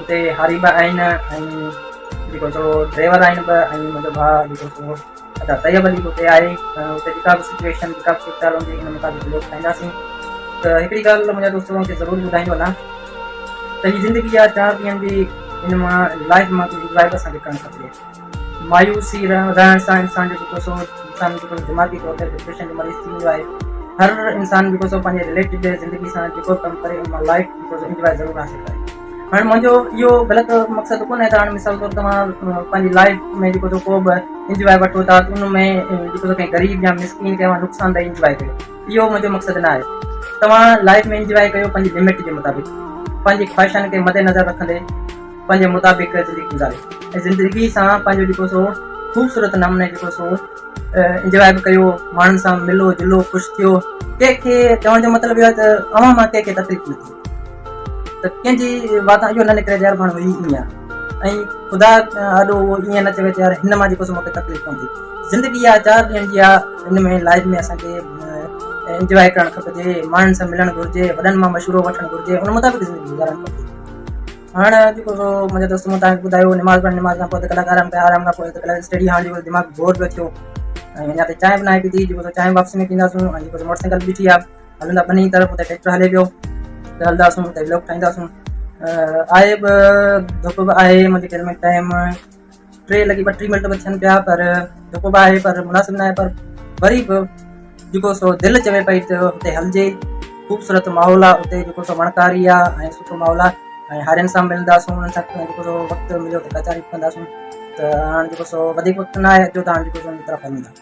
اتي هاري به آهن ۽ جيڪو هڪڙو ڊرائيور آهن به ۽ منهنجو ڀاء جيڪو سو ادا طيب علي به اتي آهي اتي جيڪا به سچويشن جيڪا به صورتحال هوندي ان مطابق ويو ٺاهينداسين ته هڪڙي ڳالهه منهنجا دوست توهان کي ضرور ٻڌائيندو هلان ته هي زندگي آ چار ڏينهن جي ان مان لائف مان ڪجهه انجوائي به اسان کي ڪرڻ کپي مايوسي رهڻ سان انسان جو جيڪو سو انسان جيڪو سو دماغي طور تي ڊپريشن جو مريض ٿي ويندو آهي. هر انسان جيڪو سو پنهنجي رليٽيڊ زندگي سان جيڪو به ڪم ڪري ان مان لائف جيڪو سو انجواء ضرور حاصل ڪري. هاڻ منهنجو اهو غلط مقصد ڪونه آهي ته هاڻ مثال طور توهان پنهنجي لائف ۾ جيڪو سو ڪو به انجواء وٺو ٿا ته ان ۾ جيڪو سو ڪنهن غريب يا مسڪين کي اوهان نقصان دهي انجواء ڪيو اهو منهنجو مقصد نه آهي. توهان لائف ۾ انجواء ڪيو پنهنجي لمٽ جي مطابق پنهنجي خواهشن کي مدنظر رکندي. پنهنجي مطابق زندگي گذاري ۽ زندگي سان پنهنجو جيڪو سو خوبصورت نموني جيڪو سو انجواء به ڪيو ماڻهن سان ملو جلو خوش ٿيو ڪنهنکي چوڻ جو مطلب اهو آهي ته اوهان مان ڪنهنکي تڪليف نه ٿي ته ڪنهنجي وات اهو نه نڪري يار ماڻهو هي ائين آهي ۽ خدا آڏو اهو ائين نه چوي ته يار هن مان جيڪو سو مونکي تڪليف پوندي زندگي آ چار ڏينهن جي آ ان ۾ لائف ۾ اسان کي انجواء ڪرڻ کپجي ماڻهن سان ملڻ گهرجي وڏن مان مشورو وٺڻ گهرجي ان مطابق زندگي گذارڻ کپجي هاڻ جيڪو سو منهنجا دوست مون توهان کي ٻڌايو نماز پڙهڻ نماز کان پوء اڌ ڪلاڪ آرام ڪيو آرام کان پوء اڌ ڪلاڪ اسٽڊي هاڻ جيڪو دماغ بور پيو ٿيو ۽ اڃا تائين چانهه به ناهي پيتي جيڪو سو چانهه واپسي ۾ پينداسون ۽ جيڪو سو موٽر سائيڪل بيٺي آهي هلندا ٻنهي طرف اتي ٽريڪٽر هلي پيو ته هلنداسون اتي بلاگ ٺاهينداسون آهي به ڌپ به آهي منهنجي گهر ۾ ٽائم ٽي لڳي ٻٽيهه منٽ به ٿين پيا پر جيڪو به آهي پر مناسب ناهي پر وري به جيڪو سو دل چوي پئي ته اتي هلجي خوبصورت ماحول آهي اتي جيڪو سو وڻڪاري آهي ۽ سٺو ماحول آهي ۽ هارين سان ملنداسون انهن سان جيڪو سو وقت مليو ته ڪچهري به ڪنداسون ته هاڻ جيڪو سو وڌيڪ وقت ناهي اچو ته هاڻ جيڪو سو ان طرف هلون ٿا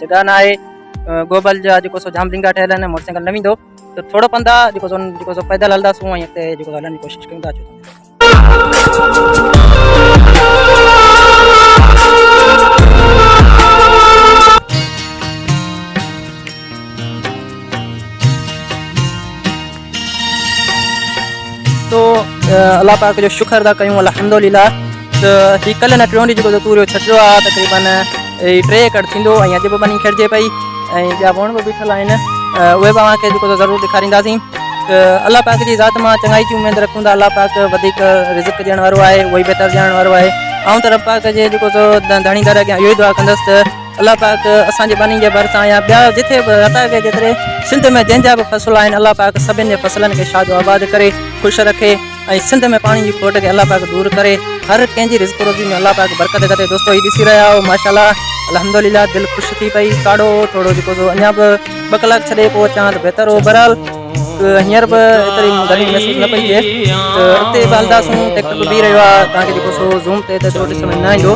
جڳهه نه آهي گوبل جا جيڪو سو جام ڊنگا ٺهيل آهن موٽرسائيڪل نه ويندو ته ٿورو پنڌ آهي جيڪو سو جيڪو سو پيدل هلنداسون ۽ اڳتي جيڪو هلڻ جي ڪوشش ڪيون ٿا تو الله پاڪ جو شڪر ٿا ڪيون الحمدلله ته هي ڪلهه نه ٽيون ڏينهن جيڪو توريو ڇٽيو آ تقريبن هي ٽي ايڪڙ ٿيندو ۽ اڄ به ٻني کيڙجي پئي ۽ ٻيا وڻ به بيٺل آهن اهي به اوهان کي جيڪو ضرور ڏيکارينداسين ته الله پاڪ جي ذات مان چڱائي جي اميد رکون ٿا الله پاڪ وڌيڪ رزق ڏيڻ وارو آهي اهو ئي بهتر ڄاڻڻ وارو آهي آئون ته رب پاڪ جي جيڪو ڌڻي در اڳيان اهو ئي دعا ڪندس ته الله پاڪ اسان جي ٻني جي ڀرسان يا ٻيا جتي به عطا ڪئي جيتري سنڌ ۾ جنهن جا به فصل آهن الله پاڪ سڀن جي فصلن کي شاد و آباد ڪري خوش رکي ۽ سنڌ ۾ پاڻي جي کوٽ کي الله پاڪ دور ڪري هر ڪنهن جي رزق روزي ۾ الله پاڪ برڪت ڪري دوستو هي ڏسي رهيا آهو ماشاءالله الحمدلله دل خوش ٿي پئي ڪاڙهو ٿورو جيڪو سو اڃا به ٻه ڪلاڪ ڇڏي پوء اچان ها ته بهتر هو بهرحال هينئر به ايتري گرمي محسوس نه پئي ٿئي ته اڳتي به هلنداسون ٽيڪٽر به بيهي رهيو آهي تان ڪري جيڪو سو زوم تي ته ايترو ڏسڻ ۾ نه ايندو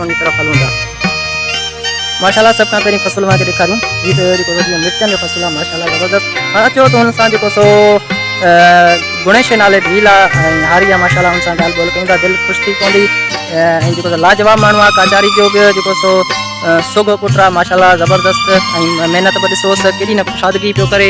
جي طرف هلون ٿا ماشاءالله سڀ کان پهرين فصل وهان کي ڏيکاريون هي ته جيڪو وڌيڪ مرچن جو فصل آهي ماشاءالله زبردست هاڻ اچو ته هن سان جيڪو سو گڻيش نالي ڀيل آ ۽ هاري آ ماشاءالله ان سان ڳالهه ٻولهه ڪيون ٿا دل خوش ٿي پوندي ۽ جيڪو لاجواب ماڻهو آ ڪاچاري جو به جيڪو سو سوگهو پٽ آ ماشاءالله زبردست ۽ محنت به ڏسوس ڪيڏي نه ڪشادگي پيو ڪري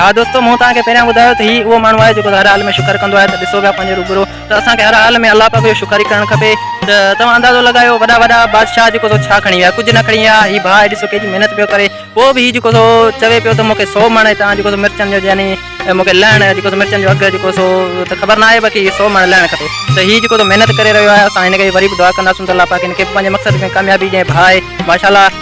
ها دوستو مون توهان کي پهريان ٻڌايو ته هي اهو ماڻهو آهي جيڪو هر حال ۾ شڪر ڪندو آهي ته ڏسو پيا پنهنجي روبرو ته اسان کي هر حال ۾ الله پاڪ جو شڪر ئي ڪرڻ کپي ته توهان اندازو لڳايو وڏا وڏا بادشاهه جيڪو سو ڇا کڻي ويا ڪجهه نه کڻي ويا هي ڀاء ڏسو ڪيڏي محنت پيو ڪري پوء به هي جيڪو سو چوي پيو ته مونکي سو مڻ هتان جيڪو سو مرچن جو يعني مونکي لهڻ جيڪو سو مرچن جو اگهه جيڪو سو ته خبر ناهي باقي سو مڻ لهڻ کپي ته هي جيڪو سو محنت ڪري رهيو آهي اسان هن کي وري به دعا ڪنداسون ته الله پاڪ هن کي پنهنجي مقصد ۾ ڪاميابي ڏئي ڀاء ماشاء الله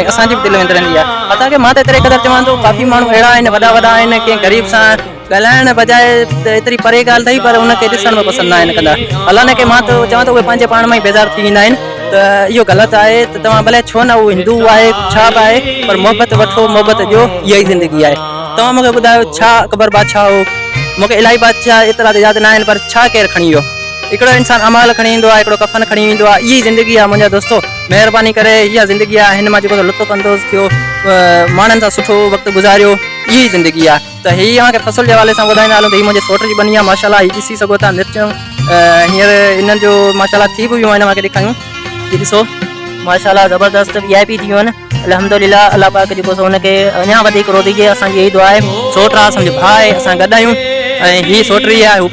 ۽ اسان جي به دل وندرن جي آهي حتا ڪه مان ته ايتري قدر چوان ٿو ڪافي ماڻهو اهڙا آهن وڏا وڏا آهن ڪنهن غريب سان ڳالهائڻ بجاء ته ايتري پري ڳالهه اٿئي پر ان کي ڏسڻ به پسند نه آهن ڪندا حالانڪه مان ته چوان ٿو اهي پنهنجي پاڻ مان ئي بيزار ٿي ويندا آهن ته اهو غلط آهي ته توهان بلئه ڇو نه اهو هندو آهي ڇا به آهي پر محبت وٺو محبت ڏيو اها ئي زندگي آهي توهان مون کي ٻڌايو ڇا اڪبر بادشاهه هو مون کي الاهي بادشاهه ايترا ته ياد نه آهن پر ڇا ڪير کڻي ويو هڪڙو انسان امال کڻي ايندو آهي هڪڙو ڪفن کڻي ويندو آهي اها ئي زندگي آهي منهنجا دوستو مهرباني ڪري اها زندگي آهي هن مان جيڪو لطف اندوز ٿيو ماڻهن سان سٺو وقت گذاريو اها ئي زندگي آهي ته هي اوهان کي فصل جي حوالي سان ٻڌائيندا هلون ته هي منهنجي سوٽ جي ٻني آهي ماشاء الله هي ڏسي سگهو ٿا مرچون هينئر هنن جو ماشاء الله ٿي به ويون آهن اوهان کي ڏيکاريون هي ڏسو ماشاء الله زبردست وي آء پي ٿي ويون آهن الحمدلله الله پاڪ جيڪو سو هن کي اڃا وڌيڪ روضي ڏي اسان جي اهي دعا آهي سوٽ آهي اسان جو ڀاء آهي اسان گڏ آهيون ۽ هي سوٽ رهي آهي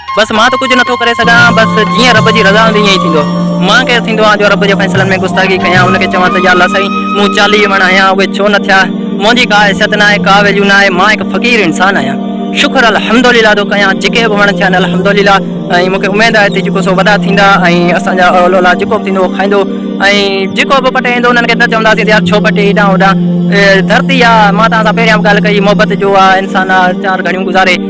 بس مان ته ڪجهه نٿو ڪري سگهان، بس جيئن رب جي رضا هوندي ائين ئي ٿيندو. مان ڪير ٿيندو آهيان جو رب جي فيصلن ۾ گستاخي ڪيان، ان کي چوان ته يا الله سائين مون چاليهه وڻ هنيا اهي ڇو نه ٿيا، منهنجي ڪا حيثيت ناهي، ڪا ويليو ناهي، مان هڪ فقير انسان آهيان، شڪر الحمدلله ٿو ڪيان جيڪي به وڻ ٿيا آهن الحمدلله ۽ مونکي اميد آهي ته جيڪو سو وڏا ٿيندا ۽ اسان جا اول اولاد جيڪو به ٿيندو اهو کائيندو ۽ جيڪو به پٽي ايندو انهن کي نه چونداسين ته يار ڇو پٽي هيڏانهن هوڏانهن ڌرتي آهي مان توهان سان پهريان به ڳالهه ڪئي محبت جو آهي انسان آهي چار گهڙيون گذاري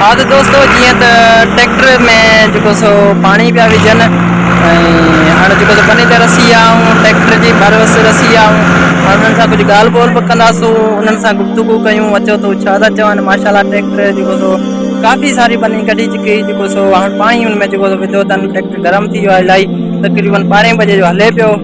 ها ته دوستو جيئن ته ٽريڪٽر ۾ جيڪو سو پاڻي پيا وجهن ۽ هاڻي جيڪو سو بني تي رسي آيا آهيون ٽريڪٽر جي ڀر وس رسي آيا آهيون هاڻي انهن سان ڪجهه ڳالهه ٻولهه به ڪنداسون انهن سان گفتگو ڪيون اچو تو ڇا ٿا چون ماشاالله ٽريڪٽر جيڪو سو ڪافي ساري بني ڪڍي چڪي جيڪو سو هاڻي پاڻي ان ۾ جيڪو سو وڌو اٿن ٽريڪٽر گرم ٿي ويو آهي الاهي تقريبن ٻارهين بجي جو هلي پيو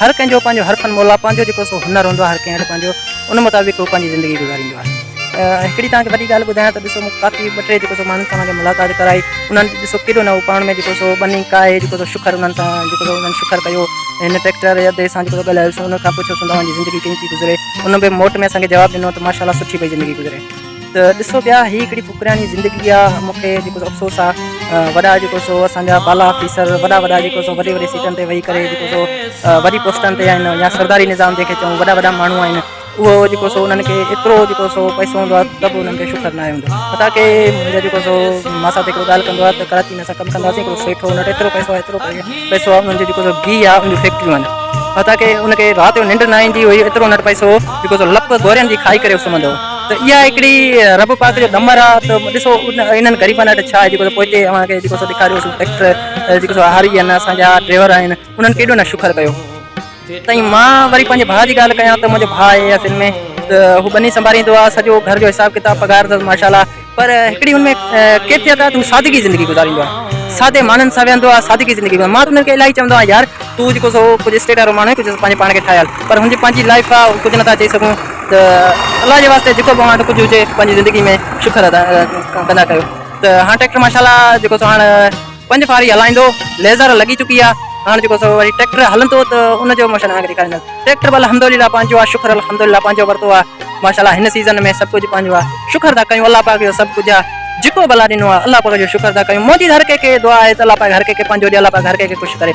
هر ڪنهن جو پنهنجو هر فن مولا پنهنجو جيڪو سو هنر هوندو آهي هر ڪنهن وٽ پنهنجو ان مطابق هو پنهنجي زندگي گذاريندو آهي هڪڙي توهان کي وڏي ڳالهه ٻڌايان ته ڏسو مون ڪافي ٻه ٽي جيڪو سو ماڻهن سان مانجي ملاقات ڪرائي انهن ڏسو ڪيڏو نه پاڻ ۾ جيڪو سو ٻني ڪاهي جيڪو سو شکر انهن سان جيڪو سو انهن شکر ڪيو هن ٽريڪٽر يا دي سان جيڪو ڳالهايو سو ان کان پڇيو سون توهان جي زندگي ڪيئن ٿي گذري ان به موٽ ۾ اسان کي جواب ڏنو ته ماشاءالله سٺي پئي زندگي گذري ته ڏسو پيا هي هڪڙي فقرياڻي زندگي آ مون کي جيڪو افسوس آ وڏا جيڪو سو اسان جا بالا آفيسر وڏا وڏا جيڪو سو وڏي وڏي سيٽن تي ويهي ڪري جيڪو سو وڏي پوسٽن تي آهن يا سرداري نظام جنهن کي چون وڏا وڏا ماڻهو آهن اهو جيڪو سو انهن کي ايترو جيڪو سو پئسو هوندو آ ته به انهن کي شڪر ناهي هوندو حتا کي منهنجا جيڪو سو ماء سات هڪڙو ڳالهه ڪندو آ ته ڪراچي ۾ اسان ڪم ڪنداسين هڪڙو سيٺ هو ان وٽ ايترو پئسو آ ايترو پئسو آ انهن جي جيڪو سو گيهه آ انهن جون فيڪٽريون آهن حتا کي ان کي رات جو ننڊ نه ايندي هئي ايترو ان وٽ پئسو هو جيڪو سو لپ گورين جي کائي ڪري سمهندو هو ته اها هڪڙي رب پاڪ جو ڏمر آ ته ڏسو انهن غريبن وٽ ڇا آهي جيڪو پوئتي اوهان کي جيڪو سو ڏيکاريو سو ٽريڪٽر جيڪو سو هاري آهن اسان جا ڊريور آهن انهن ڪيڏو نه شڪر ڪيو تائين مان وري پنهنجي ڀاء جي ڳالهه ڪيان ته منهنجو ڀاء آهي اصل ۾ ته هو ٻني سنڀاريندو آ سڄو گهر جو حساب ڪتاب پگهار اٿس ماشاء الله پر هڪڙي هن ۾ ڪيفيت آهي ته هو سادگي زندگي گذاريندو آهي سادي ماڻهن سان ويهندو آهي سادگي زندگي گذاريندو آهي مان ته هن کي الاهي چوندو آهيان يار تون جيڪو سو ڪجهه اسٽيٽ وارو ماڻهو آهين ڪجهه پنهنجي پاڻ کي ٺاهيل پر هن جي پنهنجي لائف آهي هو ڪجهه نٿا چئي سگهون ته الله جي واسطي جيڪو به اوهان وٽ ڪجهه هجي پنهنجي زندگي ۾ شڪر ادا ڪندا ڪيو ته هاڻ ٽريڪٽر ماشاءالله جيڪو سو هاڻ پنج ڦاري هلائيندو ليزر لڳي چڪي آ هاڻ جيڪو سو وري ٽريڪٽر هلندو ته ان جو موشن اوهان کي ڏيکاريندس ٽريڪٽر به الحمدلله پنهنجو آ شڪر الحمدلله پنهنجو ورتو آ ماشاءالله هن سيزن ۾ سڀ ڪجهه پنهنجو آ شڪر ٿا ڪيون الله پاڪ جو سڀ ڪجهه آ جيڪو به الله ڏنو آ الله پاڪ جو شڪر ٿا ڪيون منهنجي هر ڪنهن کي دعا آهي ته الله پاڪ هر ڪنهن کي پنهنجو ڏي الله پاڪ هر ڪنهن کي خوش ڪري.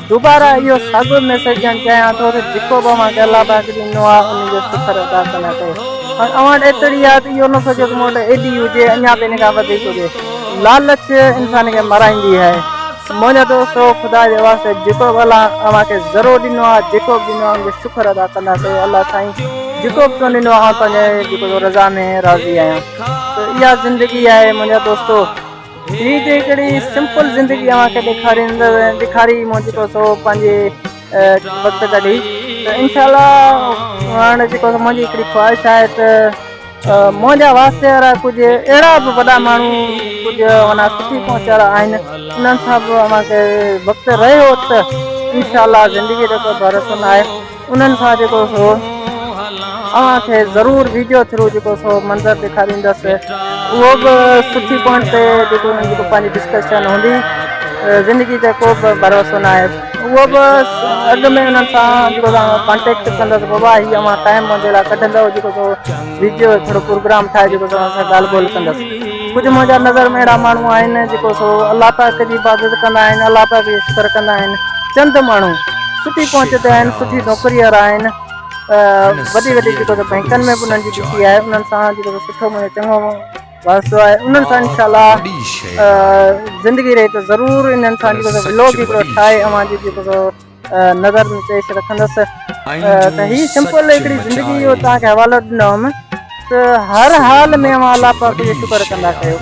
دوباره اهو ساڳيو ميسيج ڄڻ چيان ٿو ته جيڪو به اوهان کي الله پاڪ ڏنو آهي ان جو شڪر ادا ڪرڻ کپي پر اوهان وٽ ايتري آهي ته اهو نه سوچيو ته مون وٽ ايڏي هجي اڃا به ان کان وڌيڪ هجي لالچ انسان کي مرائيندي آهي منهنجا دوستو خدا جي واسطي جيڪو به الله اوهان کي ذرو ڏنو آهي جيڪو به ڏنو آهي ان جو شڪر ادا ڪندا ڪيو الله سائين جيڪو به تون ڏنو آهي آن تنهنجي جيڪو رضا ۾ راضي آهيان ته اها زندگي آهي منهنجا دوستو هي جي هڪڙي سمپل زندگي اوهان کي ڏيکاريندو ڏيکاري مون جيڪو سو پنهنجي وقت ڪڍي ته انشاء الله هاڻي جيڪو منهنجي هڪڙي خواهش آهي ته منهنجا واسطي وارا ڪجهه اهڙا به وڏا ماڻهو ڪجهه مانا سٺي پهچ وارا آهن انهن سان به اوهان کي وقت رهيو ته انشاء الله زندگي جو ڪو ڀروسو نه آهي انهن سان جيڪو سو اوهان کي ضرور ويڊيو ٿرو جيڪو سو منظر ڏيکاريندس اهو به سٺي پوائنٽ تي جيڪو انهن جيڪو پنهنجي ڊسڪشن هوندي زندگي تي ڪو به ڀروسو نه آهي اهو به اڳ ۾ انهن سان جيڪو ڪانٽيڪٽ ڪندس بابا هي اوهان ٽائم منهنجي لاء ڪڍندو جيڪو سو ويڊيو ٿورو پروگرام ٺاهي جيڪو سو اسان ڳالهه ٻولهه ڪندس ڪجهه منهنجا نظر ۾ اهڙا ماڻهو آهن جيڪو سو الله پاڪ جي عبادت ڪندا آهن الله پاڪ جي شڪر ڪندا آهن چند ماڻهو سٺي پهچ تي آهن سٺي نوڪري وارا آهن وڏي وڏي جيڪو سو بئنڪن ۾ به انهن جي ڏسي آهي انهن سان جيڪو سو سٺو منهنجو چڱو واسطو آهي انهن سان انشاء الله زندگي رهي ته ضرور انهن سان جيڪو سو ولوگ هڪڙو ٺاهي اوهان جي جيڪو سو نظر ۾ پيش رکندس ته هي سمپل هڪڙي زندگي جو توهان کي حوالو ڏنو هئم ته هر حال ۾ اوهان الله پاڪ جو شڪر ڪندا ڪيو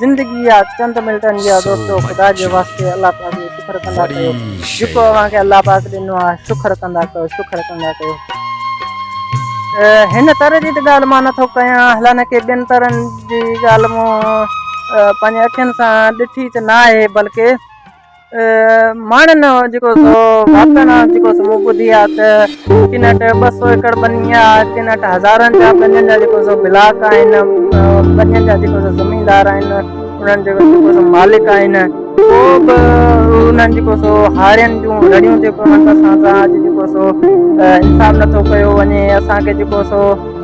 زندگي جا چند منٽن جا دوستو خدا جي واسطي الله پاڪ جو شڪر ڪندا ڪيو جيڪو اوهان کي الله پاڪ ڏنو آهي شڪر ڪندا ڪيو شڪر ڪندا ڪيو هن طرح جي ته ڳالهه مان نٿو ڪيان هلانه ڪي ٻين طرحن جي ڳالهه مون پنهنجي اکين سان ڏٺي ته نه آهي بلڪه ماڻهن جيڪو سو ٻڌي آ ته ڪن وٽ ٻه سو ايڪڙ ٻني آ ڪن وٽ هزارن جا ٻنين جا جيڪو سو بلاڪ آهن ٻنين جا جيڪو سو زميندار آهن انهن جي جيڪو سو مالڪ آهن ڪو به انهن جيڪو سو هارين جون رڙيون ٿيون پون اسان سان اڄ جيڪو سو انصاف نٿو ڪيو وڃي اسان کي جيڪو سو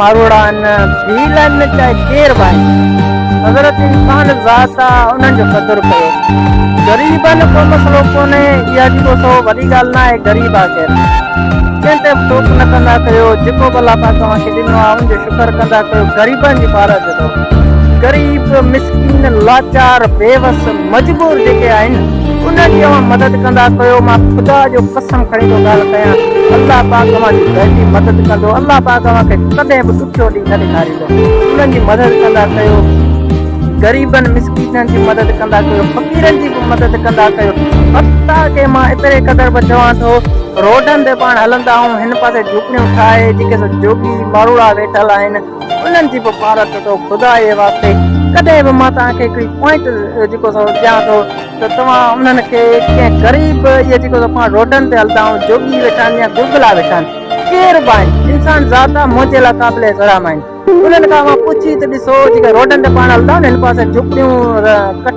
ماروئڙان ڀيلن چاهي ڪير به آهن حضرت انسان ذات آ انهن جو قدر ڪيو غريبن ڪو مسئلو ڪونهي اها جيڪو سو وڏي ڳالهه نه آهي غريب آ ڪير ڪنهن تي به ٽوڪ نه ڪندا ڪيو جيڪو به الله پاڪ اوهان کي ڏنو آ ان جو شڪر ڪندا ڪيو غريبن جي پارت جو غريب مسڪين لاچار بيوس مجبور جيڪي آهن انهن جي اوهان مدد ڪندا ڪيو مان خدا جو قسم کڻي ٿو ڳالهه ڪيان الله پاڪ اوهان جي دلي مدد ڪندو الله پاڪ اوهان کي ڪڏهن به ڏکيو ڏينهن نه ڏيکاريندو انهن جي مدد ڪندا ڪيو غريبن مسڪينن جي مدد ڪندا ڪيو فقيرن جي به مدد ڪندا ڪيو حتا کي مان ايتري قدر به چوان ٿو روڊن تي پاڻ هلندا آهون هن پاسي جهوپڙيون ٺاهي جيڪي سو جوڳي ماروڙا ويٺل آهن انهن جي به پارت اٿو خدا جي واسطي ڪڏهن به مان توهان کي هڪڙي پوائنٽ جيڪو سو ڏيان ٿو ته توهان انهن کي ڪنهن غريب اهي جيڪو سو پاڻ روڊن تي هلندا آهن جوڳي ويٺا آهن يا گرگلا ويٺا آهن ڪير به آهن انسان ذات آهي منهنجي لاء قابل احترام آهن انهن کان اوهان پڇي ته ڏسو جيڪي روڊن تي پاڻ هلندا آهن هن پاسي جهوپڙيون ڪٺ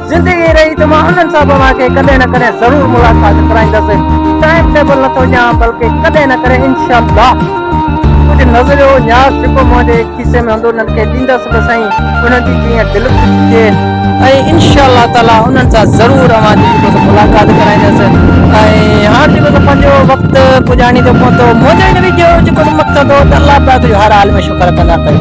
زندگي رهي ته مان انهن سان به اوهان کي ڪڏهن نه ڪڏهن ضرور ملاقات ڪرائيندس. ٽائيم ٽيبل نٿو ڄان بلڪه ڪڏهن نه ڪڏهن انشاء الله. ڪجهه نظريو نياز جيڪو منهنجي کيسي ۾ هوندو انهن کي ڏيندس به سائين انهن جي جيئن دل خوش ٿئي ۽ انشاء الله تعاليٰ انهن سان ضرور اوهان جي جيڪو سو ملاقات ڪرائيندس ۽ هاڻ جيڪو سو پنهنجو وقت پڄاڻي ٿو پهتو منهنجو هن ويڊيو جو جيڪو سو مقصد هو ته الله پاڪ جو هر حال ۾ پڪڙ ڪندا ڪيو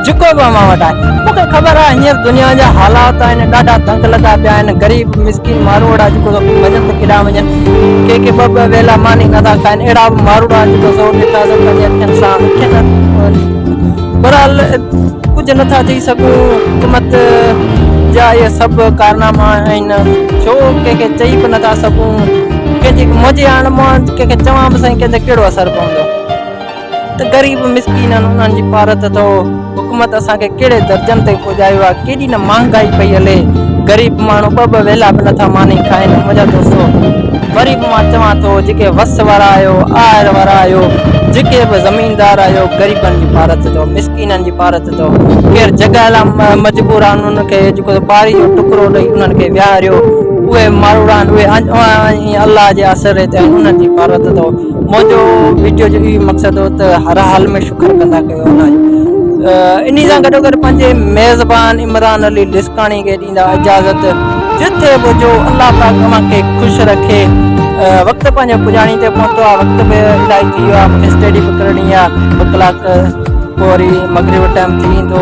جيڪو به اوهان وٽ آهي مون کي خبر آهي هينئر دنيا جا حالات آهن ڏاڍا تنگ لڳا پيا آهن غريب مسڪين ماروئڙا جيڪو سو وڃن ته ڪيڏانهن وڃن ڪي ڪي ٻه ٻه ويلا ماني نٿا کائن اهڙا به ماروئڙا جيڪو سو ڏٺا سو پنهنجي اکين سان اکين برحال ڪجهه نٿا چئي سگهون حڪومت جا اهي سڀ ڪارناما آهن ڇو ڪنهن کي چئي به نٿا سگهون ڪنهن جي منهنجي هاڻ مان ڪنهن کي چوان به سائين ڪنهن جو ڪهڙو اثر پوندو ته غريب مسڪينن انهن جي پارت اٿئو حڪومت اسان کي ڪهڙي درجن تائين پڄايو آهي ڪيڏي نه مهانگائي پئي هلي غريب ماڻهو ٻه ٻه ويلا به نٿا ماني کائين منهنجا دوستو وري به مان چوان ٿو جيڪي وس وارا آهيو آهر وارا آهيو جيڪي به زميندار آهيو غريبن جي پارت اٿئو مسڪينن جي پارت اٿئو ڪير جڳهه لاء مجبور آهن انهن کي جيڪو پاري جو ٽڪرو ڏئي انهن کي ويهاريو اهي ماروڙا آهن اهي الله جي آسري تي انهن جي پارت اٿئو منهنجو ويڊيو جو هي مقصد هو ته هر حال ۾ شڪر ڪندا ڪيو هن جو انهي سان گڏو گڏ پنهنجي ميزبان عمران علي لسڪاڻي کي ڏيندا اجازت جتي به جو الله پاڪ اوهان کي خوش رکي وقت پنهنجو پڄاڻي تي پهتو آهي وقت به الائي ٿي ويو آهي مون کي اسٽڊي به ڪرڻي آهي ٻه ڪلاڪ پوري مغرب ٽائيم ٿي ويندو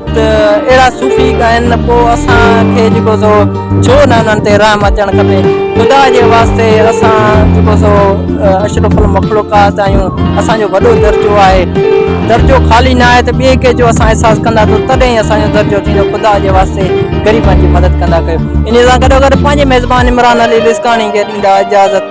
ته اهڙا صوفي ڳائن پوء اسان کي جيڪو سو ڇو نه انهن تي رحم اچڻ کپي. خدا جي واسطي اسان جيڪو سو اشرف المخلوقات آهيون اسان جو وڏو درجو آهي درجو خالي نه آهي ته ٻئي ڪنهن جو اسان احساس ڪندا ته تڏهن ئي اسان جو درجو ٿيندو خدا جي واسطي غريبن جي مدد ڪندا ڪيو انهي سان گڏو گڏ پنهنجي ميزبان عمران علي لسڪاڻي کي ڏيندا اجازت.